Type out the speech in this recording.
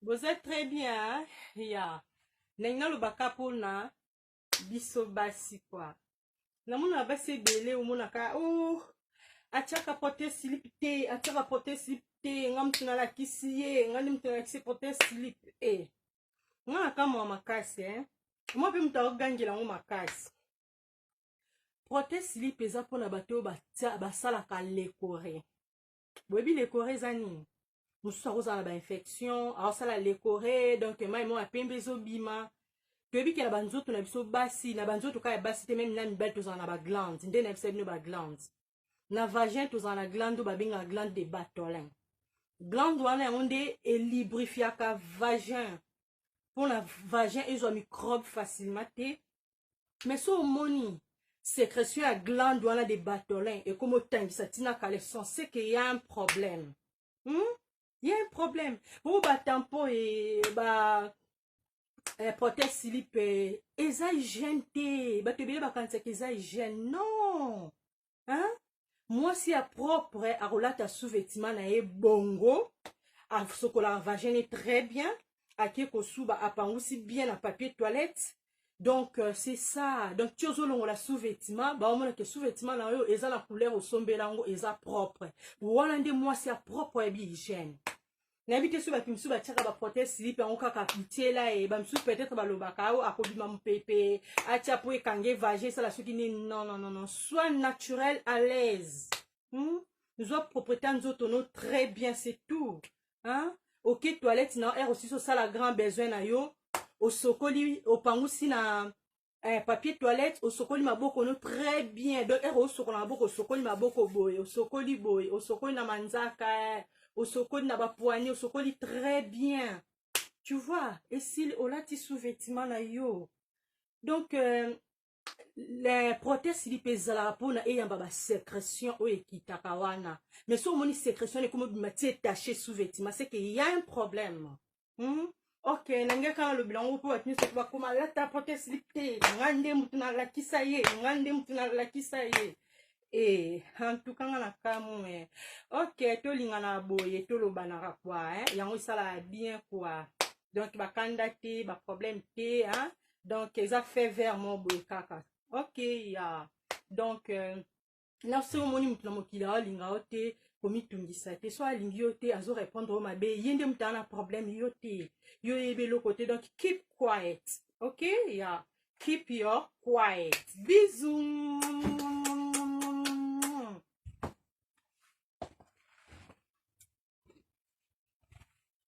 boza très bien hein? ya yeah. ndenge nalobaka mpona biso basi kwa namonaka basi ebele omonaka o oh, atiaka pote silip te atiaka pote silip te nga moto nalakisi ye nga nde moto nalakisi pote silip e eh. nga nakamwa makasi e eh? mwa mpe moto akogangela yango makasi prote slip eza mpona bato oyo basalaka lecore boyebi lecore eza nini mosusu akozala na bainfection aosala lecore donc mai moko ya pembe ezobima toyebi ke na banzoto na biso basi na banzoto kaka ya basi te meme na mibali tozala na baglande nde na bisa bino baglande na vagin tozala na glande oyo babengaka glande de batolin glande wana yango nde elibrifiaka vagin mpona vagin ezwa microbe facilement te mais so omoni sécrétion ya glande wana de batolin ekoma otangisa ntina kala esense ke ya un problème hmm? ya un problème bongo batampo e ba eh, protège silipe eza hygiène te bato ebele bakanisaka eza hygiène non hein? mwasi ya propre akolata sous-vêtement na ye bongo asokolaka vagin ye très bien ake kosuba apangusi bien na papier toilette donc euh, c'est ça donc ti ozolongola sous-vêtement baomona ke sous-vêtement na yo eza na couleur osombela yango eza propre wana nde mwasi ya propre ya bihygiène nayebi te soki bato mosusu batiaka baprotège silipe yango kaka kotyela ye bamosusu peut-être balobaka ao oh, akobima mopepe atya mpo ekange vage esala soki nini non non non non soit naturel à l'aise hmm? zwa propriété ya nzoto no très bien c'est tout hein? ok toilette na ere osisi osala grand besoin na yo osokoli opangusi na eh, papier toilette osokoli maboko no très bien donc ero osokola maboko osokoli maboko boye osokoli boye osokoli na manzaka eh, osokoli na bapoigni osokoli très bien tu vois esili olati sous-vêtement na yo donc euh, le proteste lipe ezalaka mpona eyamba basécression oyo ekitaka wana mais so omoni sécression wana ekomi obima ti etache sous-vêtement seke ya un problème hmm? ok nalingi kaka nalobela yango mpo bato nyonso bakoma alata pote slip te nga nde motu nalakisa ye nga nde motu nalakisa ye e antuka nga na kamwe eh. ok tolingana boye tolobanaka kua eh? yango esalaka bien kua donc bakanda te baproblème te hein? donc eza fait vert mo boye kaka ok ya yeah. donc euh, na se omoni moto na mokili aolinga yo te komitungisa te so alingi yo te azo répondre yo mabe ye nde moto ana problème yo te yo oyebi eloko te donc keep quiet ok ya yeah. keep your quiet bisous